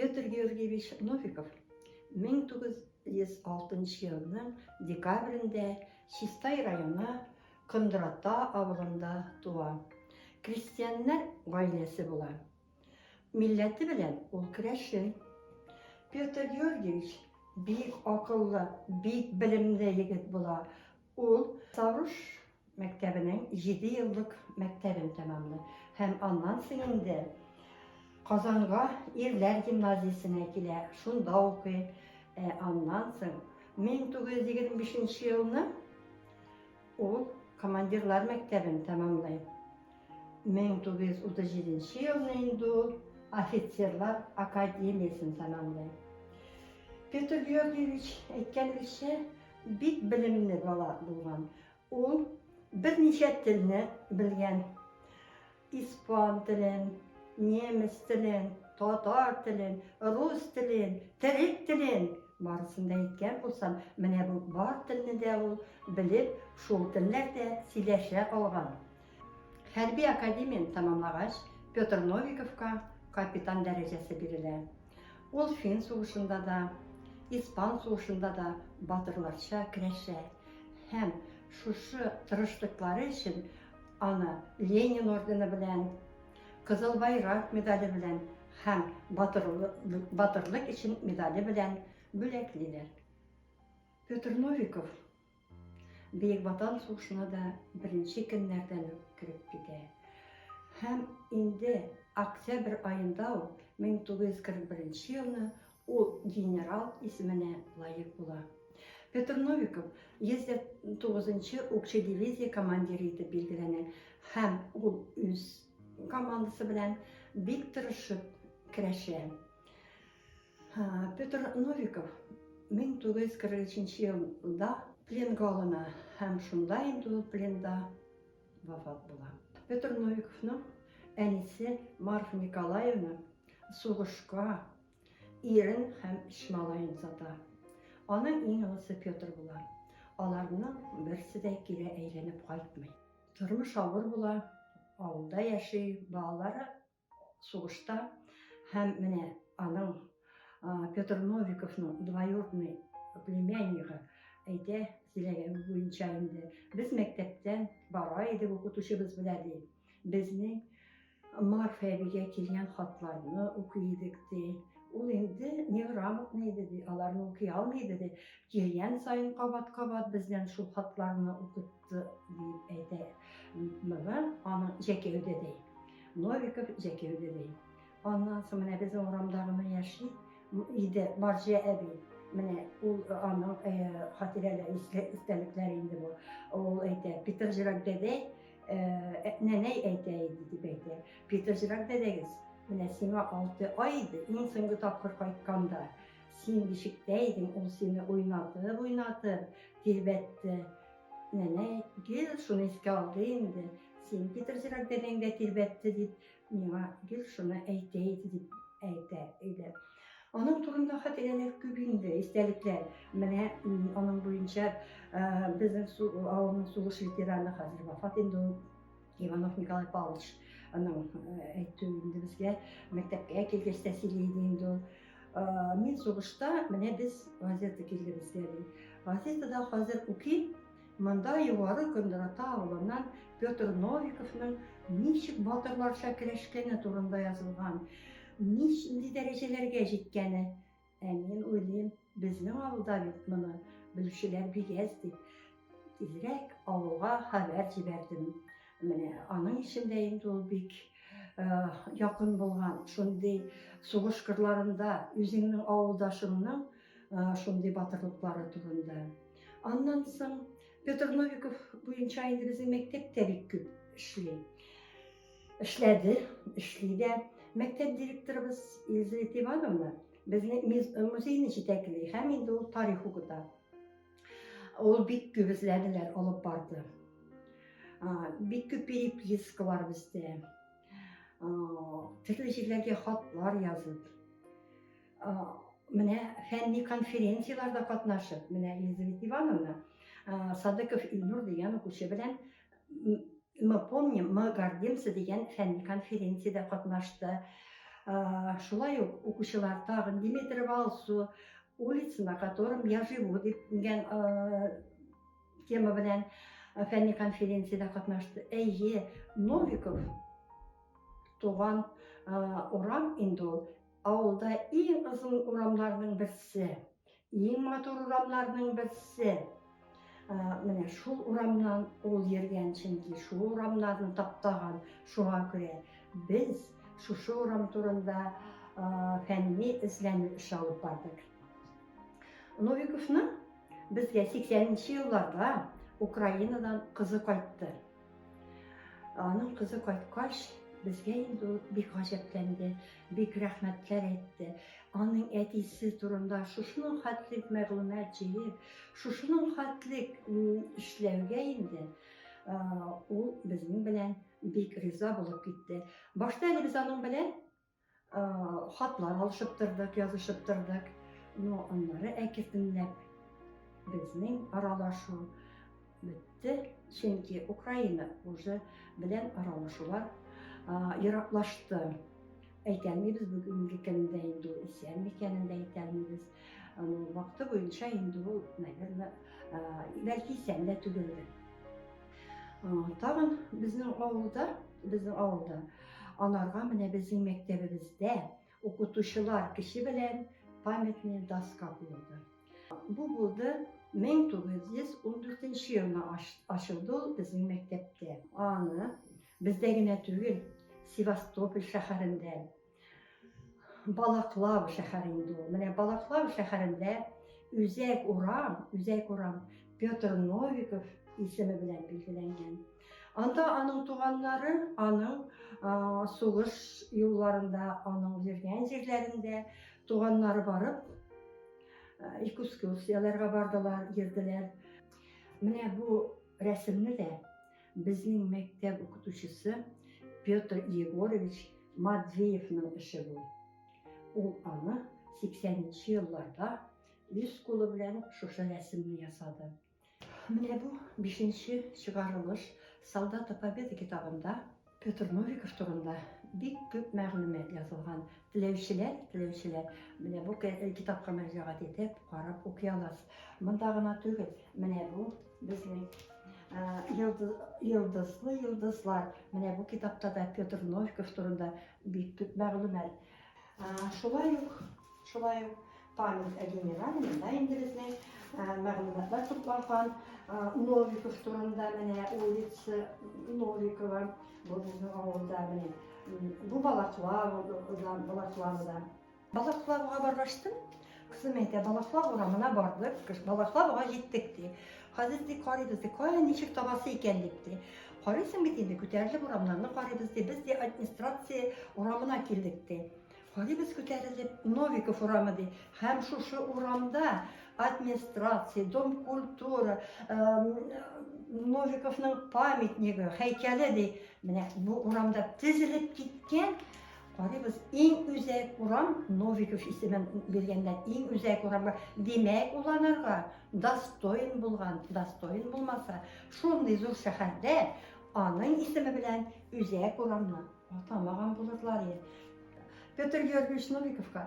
Петр Георгиевич Новиков 1906 елның декабрендә Чистай районы Кондрата авылында туа. Крестьяннар гаиләсе була. Милләте белән ул керәшен. Петр Георгиевич бик акыллы, бик белемле егет була. Ул Савруш мәктәбенең җиде еллык мәктәбен тәмамлый һәм аннан соң инде Казанга ирләр гимназиясенә килә, шунда укый. Ә аннан соң 1925 елны ул командирлар мәктәбен тәмамлый. 1937 елны инде ул офицерлар академиясен тәмамлый. Петр Георгиевич әйткәнебезчә, Бик белемле бала булган. Ул берничә телне белгән. Испан телен, немец телен, татар телен, рус телен, төрек телен. Барысын да әйткән булсам, менә бу бар телне дә ул белеп, шул телләрдә сөйләшә алган. Хәрби академияне тәмамлагач, Петр Новиковка капитан дәрәҗәсе бирелә. Ул фин сугышында да, испан сугышында да батырларча көрәшә һәм шушы тырышлыклары өчен аны Ленин ордены белән, Кызыл Байрак медале белән һәм Батырлык өчен медале белән бүләклиләр. Петр Новиков Бөек Ватан сугышына да беренче көннәрдән үк кереп китә. Һәм инде октябрь аенда ук 1941 елны ул генерал исеменә лаек була. Петр Новиков 109-нчы укчы дивизия командиры итеп билгеләнә һәм ул үз командасы белән бик тырышып керәшә. Петр Новиков 1943 елда пленга алына һәм шунда инде ул пленда вафат була. Петр Новиковның әнисе Марфа Николаевна сугышка ирен һәм өч малаен сата. Аның иң олысы Петр була. Аларның берсе дә кире әйләнеп кайтмый. Тормыш авыр була, авылда яши, балалары сугышта һәм менә аның Петр Новиковның двоюродный племяннигы әйтә сөйләгәне буенча инде без мәктәптән бара идек укытучыбыз белә ди безнең Марфа әбигә килгән хатларны укый идек ди ул инде неграмотный иде ди аларны укый алмый иде ди килгән саен кабат кабат бездән шул хатларны укытты Диеп әйтә. Моны аның җәкәюде ди. Новиков җәкәюде ди. Аннан соң менә безнең урамда гына яши иде Марҗа әби. Менә ул аның хатирәләре, истәлекләре инде бу. Ул әйтә, Питырҗырак дәдәй, нәнәй әйтә иде, дип әйтә. Питырҗырак дәдәгез, менә сиңа алты ай иде, иң соңгы тапкыр кайтканда. Син бишектә идең, ул сине уйнатып-уйнатып тирбәтте. Нәнәй, гел шуны искә алды инде, син китерзерәк дәдәң дә тирбәтте дип, миңа гел шуны әйтә иде, дип әйтә иде. Аның турында хатирәләр күп инде, истәлекләр. Менә аның буенча безнең авылның сугыш ветераны хәзер вафат инде ул. Иванов Николай Павлович аның әйтү инде безгә мәктәпкә килгәч тә сөйләде инде ул. Мин сугышта менә без газета килде безгә. Газетада хәзер укыйм, монда югары Кондырата авылыннан Петр Новиковның ничек батырларча көрәшкәне турында язылган, нинди дәрәҗәләргә җиткәне. Ә мин уйлыйм, безнең авылда бит моны белүчеләр бик әз дип, тизрәк авылга хәбәр җибәрдем. Менә аның өчен дә инде ул бик якын булган, шундый сугыш кырларында үзеңнең авылдашыңның шундый батырлыклары турында. Аннан соң Петр Новиков буенча инде безнең мәктәп тә бик күп эшли. Эшләде, эшли дә. Мәктәп директорыбыз Елизавета Ивановна безне музейны җитәкли һәм инде ул тарих укыта. Ул бик күп эзләделәр, алып барды. Бик күп переписка бар бездә. Төрле җирләргә хатлар язып. Менә фәнни конференцияләрдә катнашып, менә Елизавета Ивановна Садыков Илнур дигән укучы белән Мы помним, мы гордимся дигән фәнни конференциядә катнашты. Шулай ук укучылар тагын Димитров Алсу, улица, на котором я живу дигән тема белән фәнни конференциядә катнашты. Әйе, Новиков туган урам инде ул. Авылда иң озын урамларның берсе, иң матур урамларның берсе. Менә шул урамнан ул йөргән, чөнки шул урамнарны таптаган. Шуңа күрә без шушы урам турында фәнни эзләнү эше алып бардык. Новиковның безгә 80 нче елларда Украинадан кызы кайтты. Аның кызы кайткач, безгә инде ул бик гаҗәпләнде, бик рәхмәтләр әйтте. Аның әтисе турында шушының хәтлек мәгълүмат җыеп, шушының хәтлек эшләүгә инде ул безнең белән бик риза булып китте. Башта әле без аның белән хатлар алышып тордык, язышып тордык. Но аннары әкертенләп безнең аралашу бетте, чөнки Украина уже белән аралашулар ераклашты. Әйтәлмибез бүгенге көндә инде исән микәнен дә әйтәлмибез. Вакыты буенча инде ул, наверное, бәлки исән дә түгелдер. Тагын безнең авылда, безнең авылда анарга менә безнең мәктәбебездә укытучылар кеше белән памятный доска куелды. Бу булды 1914 елны ачылды ул безнең мәктәптә. Аны бездә генә түгел, Севастополь шәһәрендә Балаклава шәһәре инде ул. Менә Балаклава шәһәрендә Үзәк урам, Үзәк урам Петр Новиков исеме белән билгеләнгән. Анда аның туганнары, аның сугыш юлларында, аның йөргән җирләрендә туганнары барып, экскурсияләргә бардылар, йөрделәр. Менә бу рәсемне дә Безнең мәктәп укытучысы Петр Егорович Матвеевның эше бу. Ул аны 80 нче елларда үз кулы белән шушы рәсемне ясады. Менә бу бишенче чыгарылыш Солдаты Победы китабында Петр Новиков турында бик күп мәгълүмат язылган. Теләүчеләр, теләүчеләр менә бу китапка мөрәҗәгать итеп карап укый аласыз. Монда гына түгел, менә бу Безнең йолдызлы йолдызлар. Менә бу китапта да Петр Новиков турында бик күп мәгълүмат. Шулай ук, шулай ук память о генерале монда инде безнең мәгълүматлар тупланган. Новиков турында менә улица Новикова. Бу безнең авылда менә. Бу Балаклава, Балаклавада. Балаклавыга баргаштым. Кызым әйтә, Балаклав урамына бардык, Балаклавыга җиттек ди. Хәзер ди карыйбыз ди, кая ничек табасы икән дип ди. Карыйсың бит инде, күтәрелеп урамнарны карыйбыз ди. Без ди администрация урамына килдек ди. Карыйбыз күтәрелеп, Новиков урамы ди. Һәм шушы урамда администрация, дом культура, Новиковның памятнигы, һәйкәле ди. Менә бу урамда тезелеп киткән Карыйбыз, иң үзәк урам Новиков исемен биргәндә, иң үзәк урамга, димәк, ул анарга достоин булган, достоин булмаса, шундый зур шәһәрдә аның исеме белән үзәк урамны атамаган булырлар иде. Петр Георгиевич Новиковка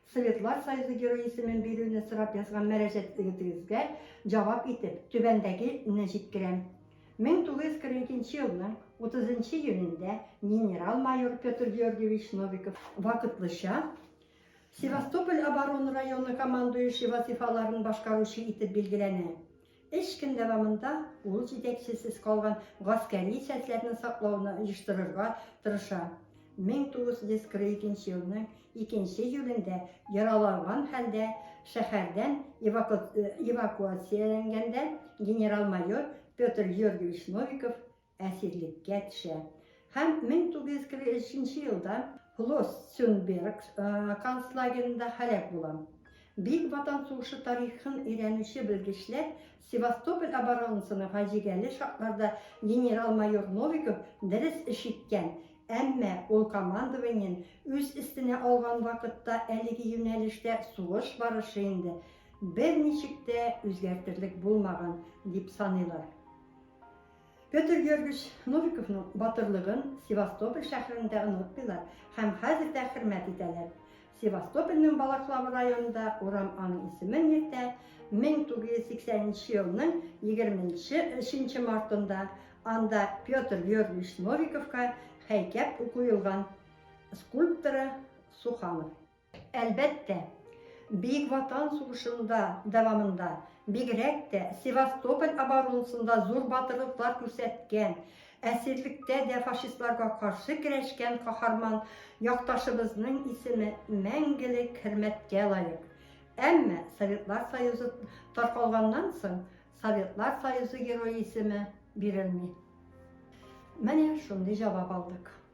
Советлар Союзы Герое исемен бирүне сорап язган мәрәҗәт егетегезгә җавап итеп, түбәндәге не җиткерәм. 1942 елның 30 нчы июнендә генерал-майор Петр Георгиевич Новиков вакытлыча Севастополь оборона районы командующий вазыйфаларын башкаручы итеп билгеләнә. Өч көн дәвамында ул җитәкчесез калган гаскәри частьләрне саклауны оештырырга тырыша. 1942 елның икенче июлендә яраланган хәлдә шәһәрдән эвакуацияләнгәндә генерал-майор Петр Георгиевич Новиков әсирлеккә төшә һәм 1943 елда Флоссенберг концлагеренда һәлак була. Бөек Ватан сугышы тарихын өйрәнүче белгечләр Севастополь оборонасының фаҗигале шартларда генерал-майор Новиков дөрес эш иткән, әмма ул командованиен үз өстенә алган вакытта әлеге юнәлештә сугыш барышы инде берничек тә үзгәртерлек булмаган дип саныйлар. Петр Георгиевич Новиковның батырлыгын Севастополь шәһәрендә онытмыйлар һәм хәзер дә хөрмәт итәләр. Севастопольнең Балаклава районында урам аның исемен йөртә, 1980 нче елның 23 нче мартында анда Петр Георгиевич Новиковка һәйкәп укуелган скульпторы Суханов. Әлбәттә, Бөек Ватан сугышында дәвамында, бигрәк тә Севастополь оборонасында зур батырлыклар күрсәткән, әсирлектә дә фашистларга каршы көрәшкән каһарман якташыбызның исеме мәңгелек хөрмәткә лаек. Әмма Советлар Союзы таркалганнан соң Советлар Союзы Герое исеме бирелми. Менә шундый җавап алдык.